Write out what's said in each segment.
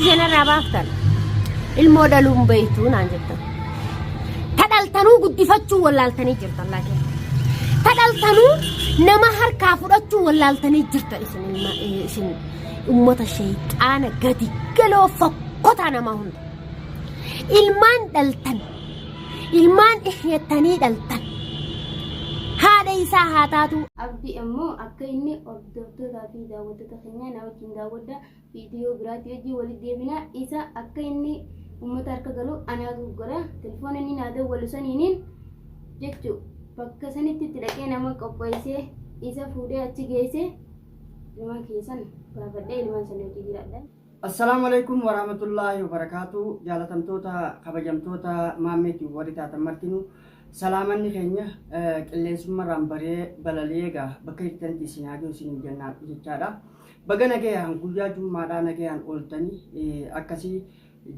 Seenarraa baaftan ilmoo dhaluun beektuu naan jettan. Ta dhaltanuu guddifachuu wallaaltanii jirtan laakiin. Ta dhaltanuu nama harkaa fudhachuu wallaaltanii jirtan isin ilma eh, isin uummata sheexaana gadi galoo fokkotaa namaa hunda. Ilmaan dhaltan ilmaan dhihyettanii dhaltan haadha isaa haa taatu Abdi ammoo akka inni hordoftoota fi daawwattoota keenyaa na wajjin daawwadha. Viidiyoo biraatti wajjin walitti deebina. Isa akka inni uummata harka galu anaatu uggura. Telefoona inni naa dawwalu saniinin jechuu bakka sanitti itti dhaqee nama qopheessee isa fuudhee achi geessee ilmaan kiyya san baafadhee ilmaan sana hojii jiraadha. Assalaamu alaikum warahmatullaahi wabarakaatu jaalatamtoota kabajamtoota maammeetiin warri taatan martinu salaamanni keenya qilleensummarraan baree balali'ee egaa bakka jirtanitti isin haa ga'u isin jennaa jechaadha. Baga nagayaan guyyaa jummaadhaa nagayaan ooltani akkasi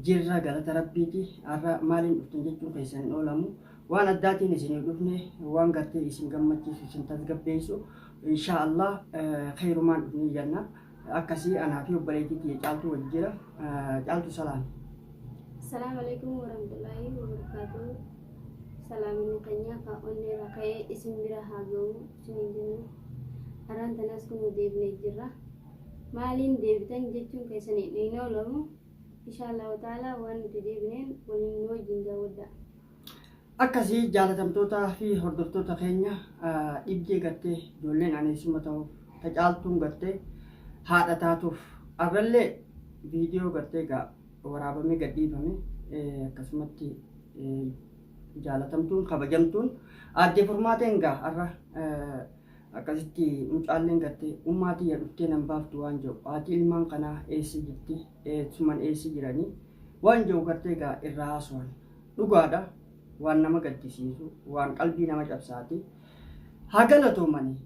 jirra galata rabbiiti har'a maaliin dhuftan jechuu keessan hin oolamu waan addaatiin isiniif dhufne waan gartee isin gammachiisu isin tasgabbeessu insha Allah khayrumaan dhufne janna akkasi anaa fi obboleettii kiyya caaltuu wajji jira caaltu salaam Assalamu alaikum warahmatullahi wabarakatuh. Salaamni keenya ka onneera ka'ee isin bira haa ga'u. isiniin jenna. Har'aan tanaas kunuu deebinee jirra. Maaliin deebitan jechuun keessan hin oolamu. Inshaa Allahu ta'ala waan nuti deebineen waliin nu wajjin daawwadhaa. Akkasii jaalatamtootaa fi hordoftoota keenya ah, dhibdee gattee ijoolleen aneessuma ta'uuf tacaaltuun gattee haadha taatuuf arrallee viidiyoo gattee gaa waraabamee gadhiifame eh, akkasumatti eh, jaalatamtuun kabajamtuun aadde furmaateen gaa har'a akkasitti mucaalleen gatte ummaa tiyya dhuftee nan baaftu waan jiru haati ilmaan kanaa eessa jirti eessuman eessa jiranii waan jiru gartee gaa irraa haasuwan dhugaadha waan nama gaddisiisu waan qalbii nama cabsaati haa galatoomanii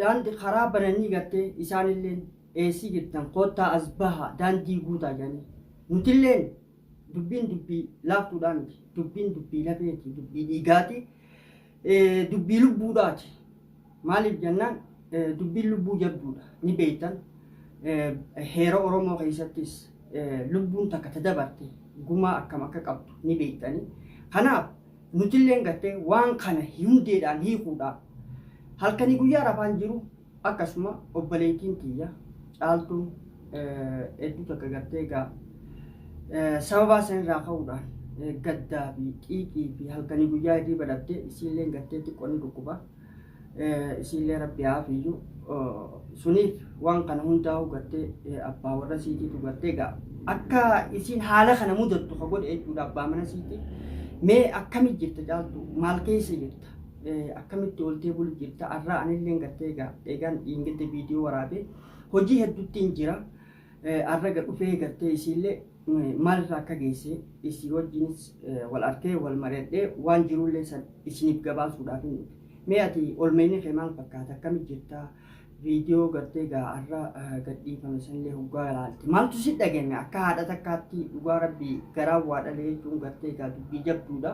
daandii karaa bananii gartee isaanilleen eessa jirtan koottaa as bahaa daandii guutaa jedhanii nutilleen Dubbiin dubbii laaftuudhaa miti. Dubbiin dubbii lafeeti, dubbii dhiigaati, eh, dubbii lubbuudhaati. Maaliif jennaan eh, dubbiin lubbuu jabduudha. Ni beektan eh, heera Oromoo keessattis eh, lubbuun takka ta dabarte gumaa akkam akka qabdu ni beektani. Kanaaf nutilleen gartee waan kana hundeedhaan hiikuudhaaf halkanii guyyaa rafaan jiru Akkasuma obboleettiin tiyya caaltuun hedduu takka gartee egaa sababaa san irraa ka'uudhaan gaddaa fi xiiqii fi halkanii guyyaa irrii badhatte isiilleen gartee xiqqoo ni dhukkuba isiillee rabbi haafiyyuu suniif waan kana hundaa'uu gartee abbaa warra siitiitu gartee egaa akka isiin haala kana mudattu ka godhe jechuudha abbaa mana siitii mee akkami jirta caaltu maal keessa jirta akkamitti ooltee bulu jirta arraa anilleen gartee egaa eegaan dhiingidda viidiyoo waraabee hojii hedduttiin jira arra ga dhufee gartee isiillee maalirra akka geesse isii wajjinis wal artee wal mari'adhee waan jiruullee san isiniif gabaasuudhaaf hin dhufe mee ati olmeenni kee maal fakkaata akkamitti jirta viidiyoo gartee egaa arra gadhiifame sanillee hoggaa ilaalte maaltu si dhagame akka haadha takkaatti dhugaa rabbii garaa waa dhalee jechuun gartee egaa dubbii jabduudha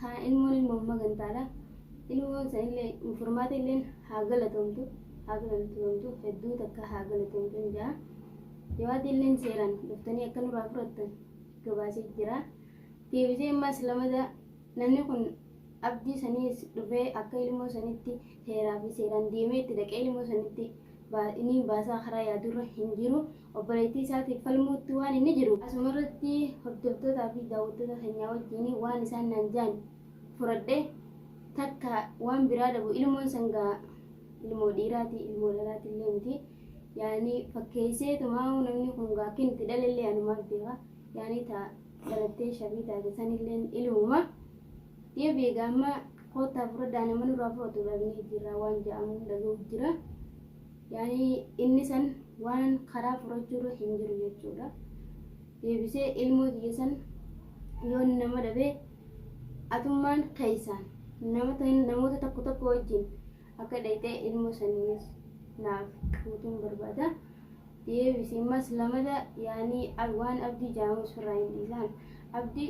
Kaa ilmoon ilmoo amma gantaala ilmoon sanillee furmaata illeen haa galatomtu haa galatomtu hedduu takka haa galatomtu hin jaa jawaati illeen seeraan dhuftanii akka nurraa fudhattan gabaasee jira deebisee ammaas lamada namni kun abdii saniis dhufee akka ilmoo sanitti seeraa fi seeraan deemee itti dhaqee ilmoo sanitti baa- inni baasaa karaa yaadurra hin jiru obboleettii isaatiif falmuutti waan inni jiru asuma irratti hordoftootaa fi daawwattoota keenyaa wajjin waan isaan naan jaan furadhe takka waan biraa dhabu ilmoon sangaa ilmoo dhiiraati ilmoo dhalaati illee miti yaani fakkeessee tumaa'uu namni kun gaa akkin itti dhalallee anumaaf beeka yaani taa dhalattee shabii taate sanillee ilmuma yoo beekaa amma koottaa furadhaa nama nurraa fudhatu dhabnee jirra waan ja'amu dhaga'u jira. Yaani inni san waan karaa furachuurra hin jiru jechuudha. Deebisee ilmoo tiyya san yoon nama dhabe atummaan keessaan nama ta'in namoota tokko tokko wajjin akka dhayxee ilmoo saniinis naaf fuutuun barbaada. Deebisee mas lamada yaani ab- waan abdii jaamus firraa hin dhiisaan. Abdi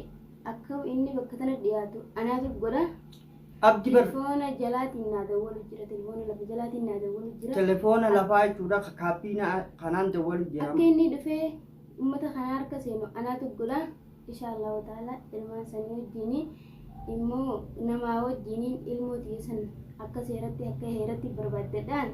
akka inni bakka tana dhiyaatu anaatu godha. Abdi bar. Telefoona jalaatiin naa dawwalu jira. Telefoona lafa jalaatiin naa dawwalu jira. Telefoona lafaa jechuudha ka kaabbiina kanaan dawwalu jira. Akka inni dhufee uummata kana harka seenu anaatu godha. Insha Allahu ta'ala ilmaan sanii wajjin immoo namaa wajjin ilmoo tiyya san akka seeratti akka heeratti barbaaddadhaan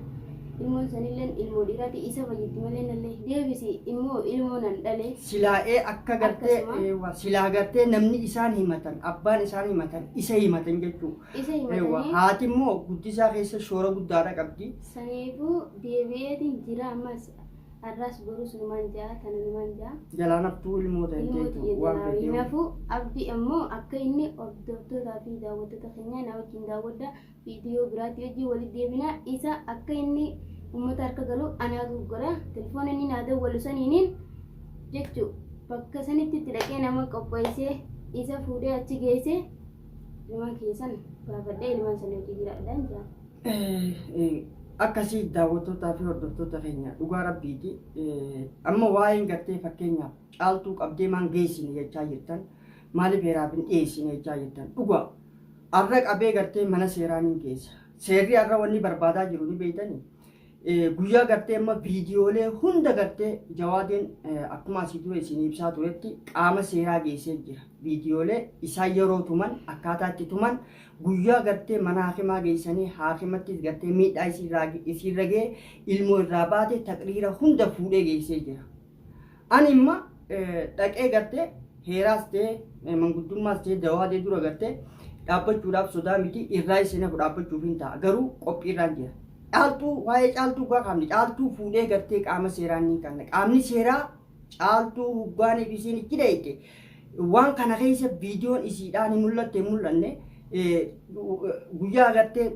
Ilmoon sanilleen ilmoo dhiiraati isa fayyitti malee nallee hin deebisi immoo ilmoo nan dhale. Silaa ee akka gartee Akkasuma. eewwa silaa gartee namni isaan himatan abbaan isaan himatan isa himatan jechuu Isa eewwa himatanii haati immoo guddisaa keessa shoora guddaadha qabdi saniifuu deebi'eetiin jira ammas har'aas borus numaan ja'a tana numaan ja'a. jalaan haftuu ilmoo ta'e Ilmoo jechuudha tiyya waan jalaa fedhe hinafu abdi ammoo akka inni hordoftootaa fi daawwattoota keenyaa na wajjin daawwadha Viidiyoo biraatti wajjin walitti deebina. Isa akka inni uummata harka galu anaatu uggura. Telefoona inni naa dawwalu saniinin jechuu bakka sanitti itti dhaqee nama qopheessee isa fuudhee achi geessee ilmaan kiyya san baafadhee ilmaan sana hojii jiraadhaan jira. akkasii daawwattootaa fi hordoftoota keenya dhugaa rabbiiti amma waa'een gartee fakkeenyaaf caaltuu qabdee maan geessine jechaa jirtan maaliif heeraaf hin dhiyeessine jechaa jirtan dhugaa Arra qabee gartee mana seeraa nin geessa. Seerri arra wanni barbaadaa jiru ni beeytani. Guyyaa gartee amma viidiyoolee hunda gartee jawaadeen akkuma asii dura isin ibsaa turetti qaama seeraa geessee jira. Viidiyoolee isaa yeroo tuman akkaataa itti tuman guyyaa gartee mana haakimaa geessanii haakimattis gartee miidhaa isiirra ga'e ilmoo irraa baate taqriira hunda fuudhee geessee jira. Ani imma dhaqee gartee heeraas ta'ee manguddummaas ta'ee dawaa ta'ee dura gartee dhaabbachuudhaaf sodaa miti irraa isin hafu dhaabbachuuf hin ta'a garuu qophiirraan jira. Caaltuu waa'ee caaltuu gaa kaafne caaltuu fuudhee gartee qaama seeraan ni kaafne qaamni seeraa caaltuu huggaaniif isiin itti dheeyte waan kana keessa viidiyoon isiidhaan hin mul'atte hin mul'anne guyyaa gartee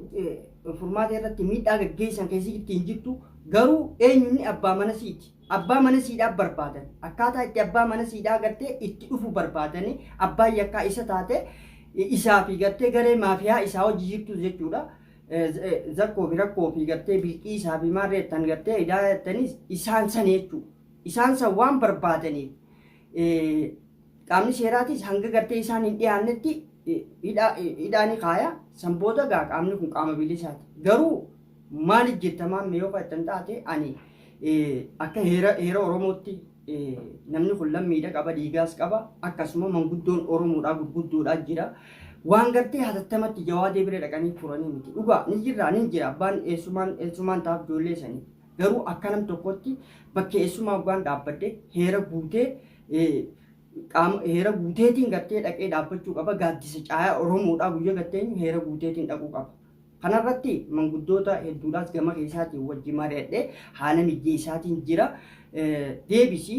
furmaata irratti miidhaa gaggeessan keessatti hin jirtu garuu eenyuun abbaa mana siiti. Abbaa mana siidhaa barbaadan. Akkaataa itti abbaa mana siidhaa gartee itti dhufu barbaadanii abbaan yakkaa isa taate isaa fi gartee garee maafiyaa isaa hojii jirtu jechuudha. Zakkoo fi rakkoo fi gartee bilqii isaa fi maarree tan gartee idaa jettaniis isaan san jechuudha. Isaan san waan barbaadaniif qaamni seeraatis hanga gartee isaan hin dhiyaannetti hidhaa ni kaaya. San booda gaa qaamni kun qaama bilisaati. Garuu Maaliif jetta maamme yoo faayittan taate ani akka heera heera Oromootti namni kun lammiidha qaba dhiigaas qaba akkasuma manguddoon Oromoodhaa gurguddoodhaa jira. Waan gartee hatattamatti jawaadee bira dhaqanii furanii miti. Dhugaa ni jirraa ni jira abbaan eessumaan eessumaan taaf ijoollee sanii. Garuu akka nam tokkotti bakka eessumaa abbaan dhaabbadde heera guutee qaama heera guuteetiin gartee dhaqee dhaabbachuu qaba gaaddisa caayaa Oromoodhaa guyyaa gartee heera guuteetiin dhaquu qaba. Kanarratti manguddoota hedduudhaas gama keessaatiin wajji mari'adhe haala mijjee isaatiin jira. Deebisi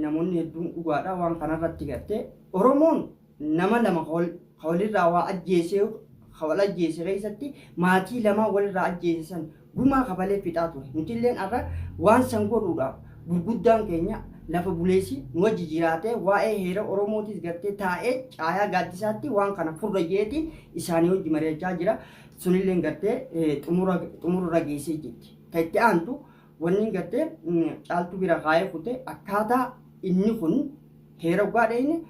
namoonni hedduun dhugaadha waan kanarratti garte. Oromoon nama lama ka walirraa waa ajjeesee ka wal ajjeese keessatti maatii lamaa walirraa ajjeese san gumaa kafalee fixaa ture. Nutilleen har'a waan san godhuudhaaf Gurguddaan keenya lafa buleessi nu wajji jiraatee waa'ee heera Oromootis gartee taa'ee caayaa gaaddisaatti waan kana furra jeeti isaanii wajji mari'achaa jira. Sunilleen gartee xumura xumurra geessee jirti. Ta itti aantu wanniin gartee caaltuu bira kaa'ee kute akkaataa inni kun heera dhugaa dheeyne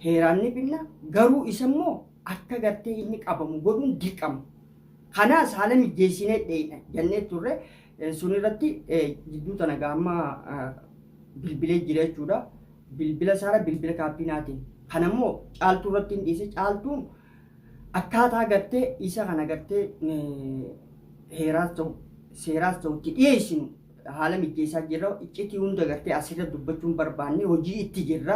heeraan ni binna garuu isammoo akka gartee inni qabamu godhuun dirqama. Kanaas haala mijjeessinee dheeyna jennee turre Sun irratti jidduu tana gaamma bilbilee jira jechuudha. Bilbila isaarra bilbila kaabinaatiin. Kan ammoo caaltuu irratti hin dhiise caaltuun akkaataa gartee isa kana gartee heeraas ta'u seeraas ta'u itti dhiyeessinu haala mijeessaa jirra iccitii hunda gartee asirra dubbachuun barbaanne hojii itti jirra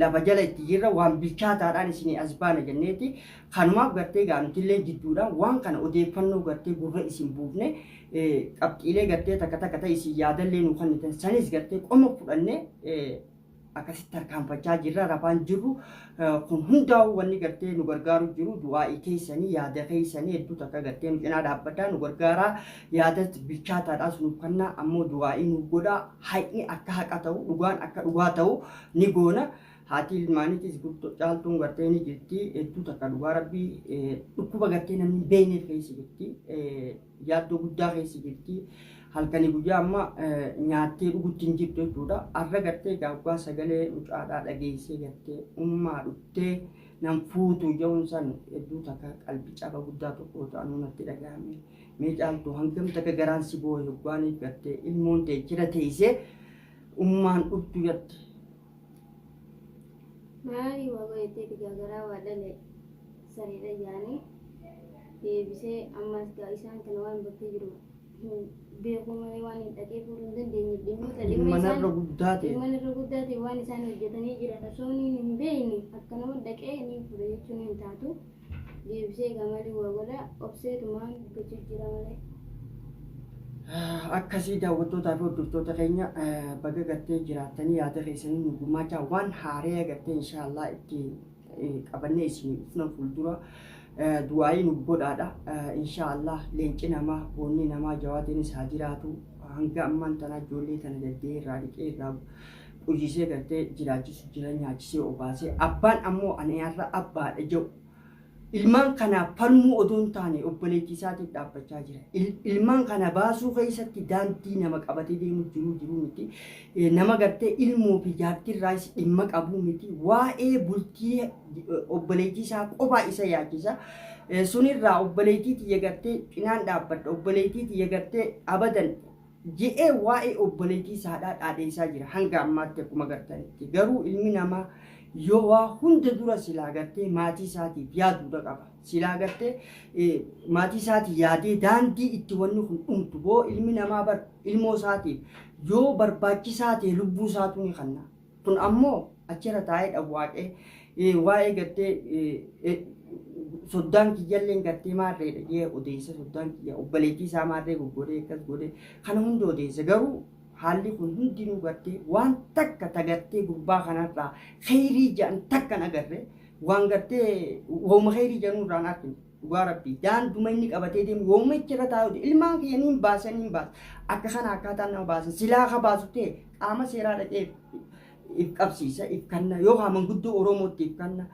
lafa jala itti jirra waan bilchaataadhaan isinii as baana jenneeti kanumaaf gartee gaanutillee jidduudhaan waan kana odeeffannoo gartee gurra isin buufne qabxiilee gartee takka takka ta'e isin yaadallee nu kennitan sanis gartee qoma fudhannee akkasitti tarkaanfachaa jirra rafaan jirru kun hundaa'u wanni gartee nu gargaaru jiru du'aa'ii keessanii yaada keessanii hedduu takka gartee nu cinaa dhaabbataa nu gargaaraa yaada bilchaataadhaas nu kennaa ammoo du'aa'ii nu godhaa haqni akka haqa ta'u dhugaan akka dhugaa ta'u ni goona. Haati ilmaaniitis guddoo caaltuun gartee ni jirti hedduu takka dhugaa rabbii dhukkuba gartee namni beekneef keessa jirti. yaaddoo guddaa keessa jirti. Halkanii guyyaa amma nyaattee dhugutti hin jirtu jechuudha. Arra gartee gaaggaa sagalee mucaadhaa dhageessee gartee ummaa dhuftee nan fuutu jedhuun san hedduu takka qalbii caba guddaa tokko ta'anuu natti dhagahame. Mee caaltu hangam takka garaan si boo'e hoggaaniif gartee ilmoon ta'e jira teessee ummaan dhuftu jette. Maali waa bayettee digaagaraa waa dhale sareedha jaanii deebisee ammaas gaa isaan kana waan bakkee jiru hin beekuu malee waan hin dhaqee fuudhuu hin dandeenye dhimmoota dhimma Dhimma isaan narra guddaa ta'e. dhimma narra guddaa ta'e waan isaan hojjetanii jiran osoo inni hin beekne akka nama dhaqee ni fuudha jechuun hin taatu. Deebisee egaa mali waa godha obsee tumaan gochu jira malee. Akkasii daawwattootaa fi hordoftoota keenya baga gattee jiraattanii yaada keessanii nu gumaachaa waan haaree gattee inshaallah itti qabannee isin dhufna fuuldura du'aayii nu godhaadha inshaallah leenci namaa boonni namaa jawaatiinis haa jiraatu hanga ammaan tanaa ijoollee tana daddee irraa dhiqee irraa Ujiisee galtee jiraachisu jira nyaachisee obaasee abbaan ammoo ani har'a abbaadha jedhu ilmaan kanaaf falmuu odoo hin taane obboleettii isaatiif dhaabbachaa jira. Ilmaan kana baasuu keessatti daandii nama qabatee deemu jiruu jiruu miti. Nama gartee ilmoo fi jaartii irraas dhimma qabuu miti. Waa'ee bultii obboleettii isaa qofaa isa yaachisa. Sunirraa obboleettii tiyya gartee cinaan dhaabbadha. Obboleettii tiyya gartee abadan jedhee waa'ee obboleetii isaadhaa dhaadeessaa jira hanga ammaatti akkuma gartanitti garuu ilmi namaa yoo waa hunda dura silaa gartee maatii isaatiif yaaduudha qaba silaa gartee eh, maatii isaatii yaadee daandii itti wanni kun dhumtu boo ilmi namaa bar ilmoo isaatiif yoo barbaachisaa ta'e lubbuu isaatu ni kanna Kun ammoo achirra taa'ee dhawwaaqee eh, waa'ee gartee eh, eh, soddaan kiyyalleen gartee maarreedha jee odeessa soddaan kiyya obboleettii isaa maarree goggodee akkas godhee kana hunda odeessa garuu haalli kun hundinuu gartee waan takka tagartee gurbaa kanarraa kheyrii ja'an takkan agarre waan gartee wauma kheyrii ja'anuu irraan argine. dhugaa rabbii daanduma inni qabatee deemu yoomuma itti irra taa'uuti ilmaan kiyya niin baasa niin baasa akka kana akkaataa nama baasa silaa ka baasu ta'e qaama seeraa dhaqee if qabsiisa if kanna yoo haa manguddoo oromootti if kanna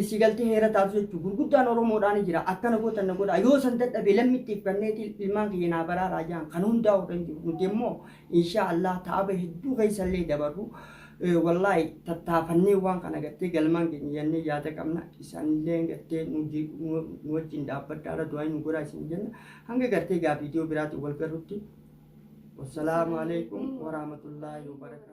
si galtee heera taatu jechuun gurguddaan oromoodhaan jira akkana gootan na godha yoo san dadhabe lammitti if kanneeti ilmaan kiyya naa baraaraa jaan kan hundaa warra hin jiru nuti immoo inshaa Allah taaba hedduu keessa illee dabarru wallaahi tattaafannee waan kana gattee galmaan keenya jennee yaada qabna isaan illee gattee nu wajjin dhaabbadhaa irra du'aa nu godhaa isin jenna hanga gartee gaa viidiyoo biraatiin wal garrutti wassalaamu alaikum warahmatullaahi wabarakaatu